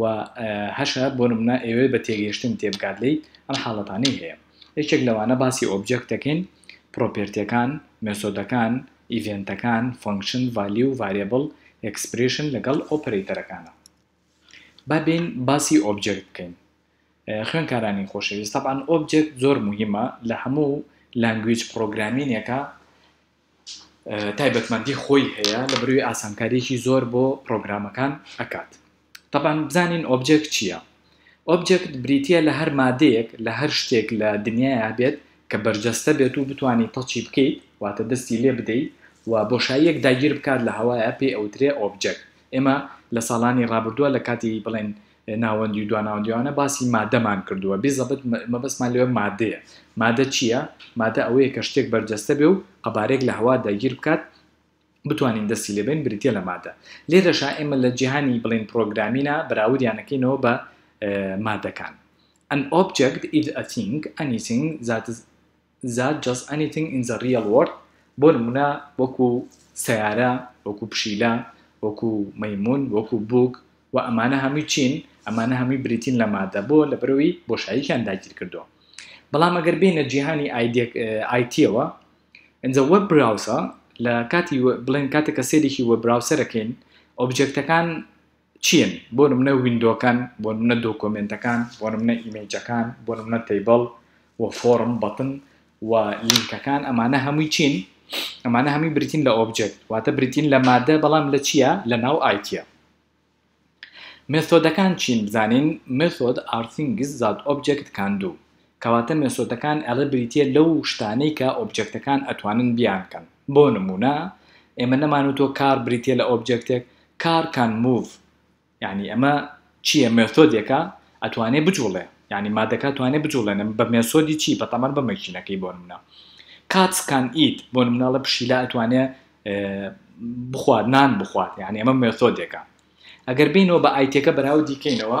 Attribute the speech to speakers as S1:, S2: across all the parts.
S1: و هەشە بۆ نمونە ئەیەوێت بە تێگەیشتن تێبگات لێی ئەم حاڵەتانەی هەیە یەکێک لەوانە باسی ئۆبجێکت دەکەین پرۆپێرتیەکان مێسۆدەکان ئیڤێنتەکان فەنکشن ڤالیو و ڤاریەبڵ ئێکسپرێشن لەگەڵ ئۆپەرەیتەرەکانە با بێین باسی ئۆبجێکت بکەین خوێنکارانی خۆشەویست تەبان ئۆبجێکت زۆر موهیمە لە هەموو لانگویج پرۆگرامینێکە تایبەتمەندی خۆی هەیە لە بروی ئاسانکاریەکی زۆر بۆ پرۆگرامەکان ئەکات تەبان بزانین ئۆبجێکت چیە ئۆبجێکت بریتیە لە هەر مادەیەک لە هەر شتێک لە دنیایا هەبێت کە بەرجەستە بێت و بتوانی تەچی بکەیت واتە دەستی لێ بدەیت و بۆشاییەک داگیر بکات لە هەوایا پێی ئەوترێ ئۆبجێکت ئێمە لە ساڵانی ڕابردوە لە کاتی بڵێن ناوەندی و دواناوەندی ئەوانە باسی مادەمان کردووە بیزەبت مەبەستمان لەوێ مادەیە مادە چییە مادە ئەوەیە کە شتێک بەرجەستە بێ و قەبارێک لە هەوا داگیر بکات بتوانین دەستی لێبین بریتە لە مادە لێرەشا ئێمە لە جیهانی بڵین پرۆگرامینا بەراودیانەکەینەوە بە مادەکان An object is a thing, anything that is زات جەست ئەنیتینگ ئین زە ڕیەڵ وۆرد بۆ نموونە وەکو سەیارە وەکو پشیلە وەکو مەیموون وەکو بووک وە ئەمانە هەمووی چین ئەمانە هەمووی بریتین لە مادە بۆ لەبەرەوەی بۆشاییکیان داگیر کردووە بەڵام ئەگەر بینە جیهانی ئایتیەوە ئەجا وەب براوسە لە کاتی بڵێن کاتێکە سێرێکی وە براوسەرەکەین ئۆبجێکتەکان چین بۆ نمونە ویندۆکان بۆ نمونە دۆکۆمێنتەکان بۆ نمونە ئیمەیجەکان بۆ نمونە تەیبڵ و فۆرم بەتن و لینکەکان ئەمانە هەمووی چین ئەمانە هەمووی بریتین لە ئۆبجێکت واتە بریتین لە مادە بەڵام لە چییە لە ناو ئایتیە مێثۆدەکان چین بزانین مێثۆد ئارتینگز زاد ئۆبجێکت کاندوو کەواتە مێسۆدەکان ئەڵێ بریتیە لەو شتانەی کە ئۆبجێکتەکان ئەتوانن بیان کەن بۆ نمونە ئێمە نەمانوتوە کار بریتیە لە ئۆبجێکتێک کار کان موڤ یانی ئەمە چیە مێثۆدێکە ئەتوانێ بجوڵێ یانی مادەکە توانێ بجوڵێنم بە مێسۆدی چی بە تەمەن بە مەکینەکەی بۆ نمونە کاتس کان ئیت بۆ نمونەڵە پشیلا ئەتوانێ بخوات نان بخوات یعنی ئەمە مێثۆدێکە ئەگەر بینەوە بە ئایتەکە بەراو دیکەینەوە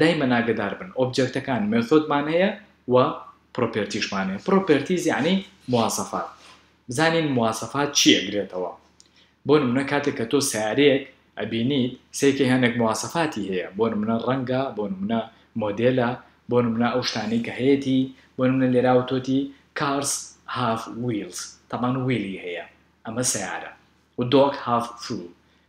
S1: دایمەن ئاگەدار بن ئۆبجێکتەکان مێثۆدمان هەیە و پرۆپێرتیشمان هەیە پرۆپێرتیز یەعنی مواسەفات بزانین مواسەفات چی ئەگرێتەوە بۆ نمونە کاتێک کە تۆ سیارەیەک ئەبینیت سەیکە هێنێک مواسەفاتی هەیە بۆ نمونە ڕەنگە بۆ نمونە مۆدێلە بۆ نمونە ئەو شتانەی کە هەیەتی بۆ نمونە لێرا وتۆتی cars have wheels تەبان ویلی هەیە ئەمە سیارە و dog have food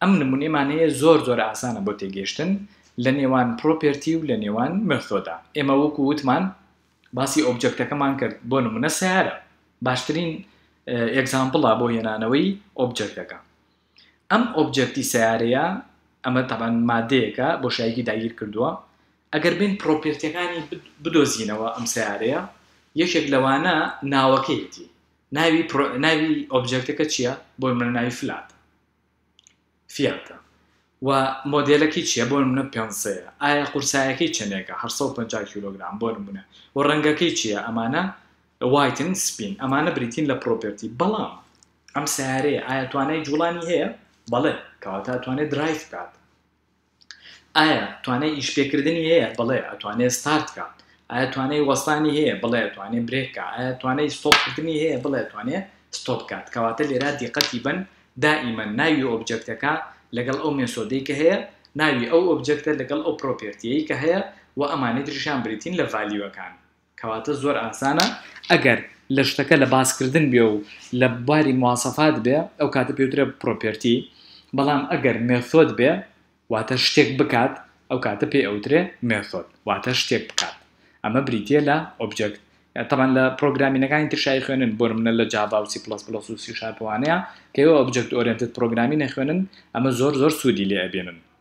S1: ئەم نمونەیمانەیە زۆر زۆر ئاسانە بۆ تێگەیشتن لە نێوان پرۆپێرتی و لە نێوان مێثۆدا. ئێمە وەکو وتمان باسی ئۆبجێکتەکەمان کرد بۆ نمونە سەیارە باشترین ئێگزامپڵە بۆ هێنانەوەی ئۆبجێکتەکە. ئەم ئۆبجێکتی سەیارەیە ئەمە تەبەن مادەیەکە بۆشایەکی داگیر کردووە ئەگەر بین پرۆپێرتیەکانی بدۆزینەوە ئەم سەیارەیە یەکێک لەوانە ناوەکەیەتی ناوی ناوی ئۆبجێکتەکە چییە بۆ منە ناوی فلات. فیاتە و مۆدێلەکەی چیە بۆ نمونە پێنسەیە ئایا قورسایەکەی چەنێکە هەشت سەد و پەنجا کیلۆگرام بۆ نمونە و ڕەنگەکەی چیە ئەمانە وایتن سپین ئەمانە بریتین لە پرۆپێرتی بەڵام ئەم سەیارەیە ئایا توانای جوڵانی هەیە بەڵێ کەواتە ئەتوانێت درایڤ بکات. ئایا توانای ئیش پێکردنی هەیە؟ بەڵێ ئەتوانێ ستارت کا. ئایا توانای وەستانی هەیە؟ بڵێ ئەتوانێ برێک کا. ئایا توانای ستۆپ کردنی هەیە؟ بڵێ ئەتوانێ ستۆپ کات. کەواتە لێرا دیقەتی بەن دائیمەن ناوی ئۆبجەکتەکە لەگەڵ ئەو مێسۆدەی کە هەیە، ناوی ئەو ئۆبجەکتە لەگەڵ ئەو پرۆپێرتیەی کە هەیە و ئەمانەی تریشیان بریتین لە ڤالیوەکان. کەواتە زۆر ئاسانە ئەگەر لە شتەکە لە باسکردن بێ و لە باری مواسەفات بێ ئەو کاتە پێوترێ پرۆپێرتی بەڵام ئەگەر مێثۆد بێ واتە شتێک بکات ئەو کاتە پێ ئەوترێ مێثۆد واتە شتێک بکات ئەمە بریتیە لە ئۆبجێکت تەمان لە پرۆگرامینەکانی تر شای خوێنن بۆ منە لە جااو سی پلس پلس و سی شارپوانەیە کە ئەو ئۆبجێکت ئۆرێنتت پرۆگرامی نەخوێنن ئەمە زۆر زۆر سوودی لێ ئەبێنن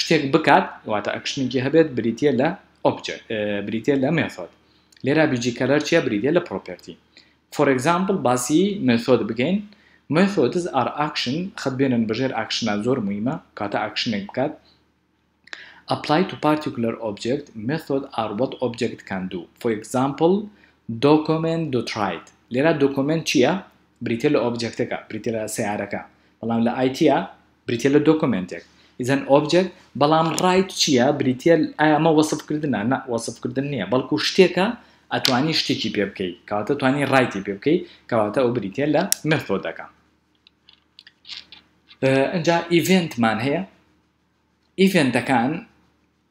S1: شتێک بکات واتە ئەکشنێکی هەبێت بریتە لە ئۆبجێکت بریتە لە مێثۆد لێرا بیجی کەلەر چیە بریتە لە پرۆپەرتی فۆر ئەگزامپل باسی مێثۆد بکەین مێثۆدز ئار ئاکشن خەت بێنن بەژێر ئاکشنا زۆر مهمە کاتە ئاکشنێک بکات apply to particular object method are what object can do for example document do tried لێرا دۆکۆمنت چییە بریتە لە ئۆبجێکتەکە بریتە لە سیارەکە بەڵام لە ئایتە بریتیە لە دۆکۆمێنتێک is an object بەڵام ڕایت چیە بریتیە ئایا ئەمە وەسف کردنە نا وەسف کردن نیە بەڵکو شتێکە ئەتوانی شتێکی پێ بکەی کەواتە توانی ڕایتی پێ بکەی کەواتە ئەو بریتیە لە مێثۆدەکە ئەجا ئیڤێنتمان هەیە ئیڤێنتەکان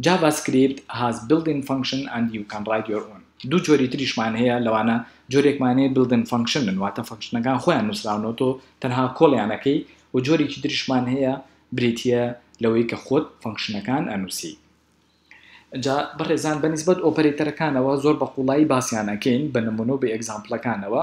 S1: JavaScript has built-in function and you can write your own دوو جۆری تریشمان هەیە لەوانە جۆرێکمان هەیە built-in function بن واتە فەنکشنەکان خۆیان نووسراونەوە تۆ تەنها کۆڵیان ئەکەی و جۆرێکی تریشمان هەیە بریتییە لەوەی کە خۆت فەنکشنەکان ئەنووسی جا بەڕێزان بەنیسبەت ئۆپەرەیتەرەکانەوە زۆر بە قوڵایی باسیان ئەکەین بە نمونە و بە ئێگزامپڵەکانەوە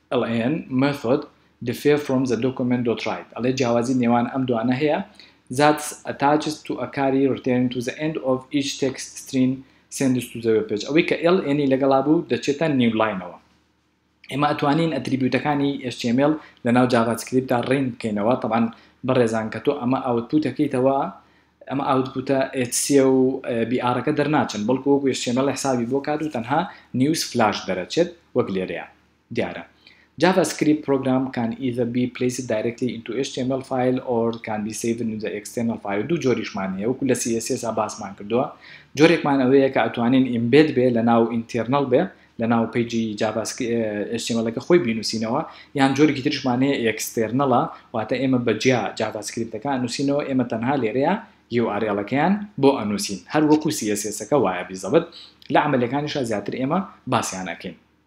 S1: LAN method differ from the document dot write ئەڵێ جیاوازی نێوان ئەم دوانە هەیە that's attached to a کاری return to the end of each text string sends to the web page ئەوەی کە LAN ی لەگەڵا بوو دەچێتە نیو لاینەوە ئێمە ئەتوانین ئەتریبیوتەکانی html لەناو جاڤا سکریپتا ڕین بکەینەوە طبعا بەڕێزان کە تۆ ئەمە ئاوتپوتەکەیتەوە ئەمە ئاوتپوتە HC و BR-ەکە دەرناچن بەڵکو وەکو HTML حسابی بۆ کات و تەنها نیوز فلاش دەرەچێت وەک لێرەیە دیارە JavaScript program can either be placed directly into html file or can be saved in the external file دوو جۆریشمان هەیە وەکو لە CSS ا باسمان کردووە جۆرێکمان ئەوەیە کە ئەتوانین embed بێ لە ناو internal بێ لە ناو پیجی JavaScript HTML کە خۆی بینوسینەوە یان جۆرێکی ترشمان هەیە external واتە ئێمە بە جیا JavaScript کە نووسینەوە ئێمە تەنها لێرەیە URL کەیان بۆ ئەنووسین هەر وەکو CSS کە وایە بیزەبت لە عملیەکانیشا زیاتر ئێمە باسیان ئەکەین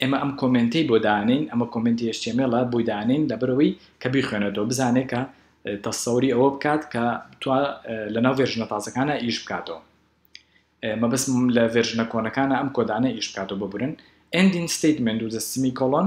S1: ئێمە ئەم کۆمێنتەی بۆ دانێین ئەمە کۆمێنتی HTML-ە بۆی دانێین لەبەرەوەی کە بیخوێنێتەوە بزانێت کە تەسەوری ئەوە بکات کە تو لەناو ڤێرژنە تازەکانە ئیش بکاتەوە مەبەستم لە ڤێرژنە کۆنەکانە ئەم کۆدانە ئیش بکاتەوە ببورن ئەندین ستیتمنت و سیمی کۆڵۆن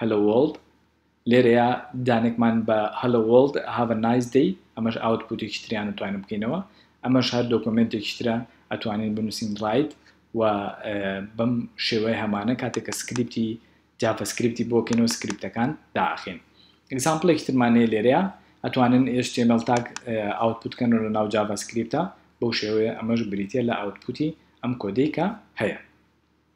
S1: Hello World، لێرەیا دانێکمان بە Hello World، Have a Nice Day، ئەمەش ئاوتپوتێکی تریان ئەتوانین بکەینەوە، ئەمەش هەر دۆکۆمێنتێکیش ترە ئەتوانین بنوسین Write و بەم شێوەیە هەمانە کاتێک کە سکریپتی جافە سکریپتی بۆ کەینەوە سکریپتەکان دائەخەین. ئیگزامپڵێکی ترمان هەیە لێرەیا ئەتوانن html tag ئاوتپوت کەنەوە لە ناو جافا سکریپتا بەو شێوەیە ئەمەش بریتیە لە ئاوتپوتی ئەم کۆدەی کە هەیە.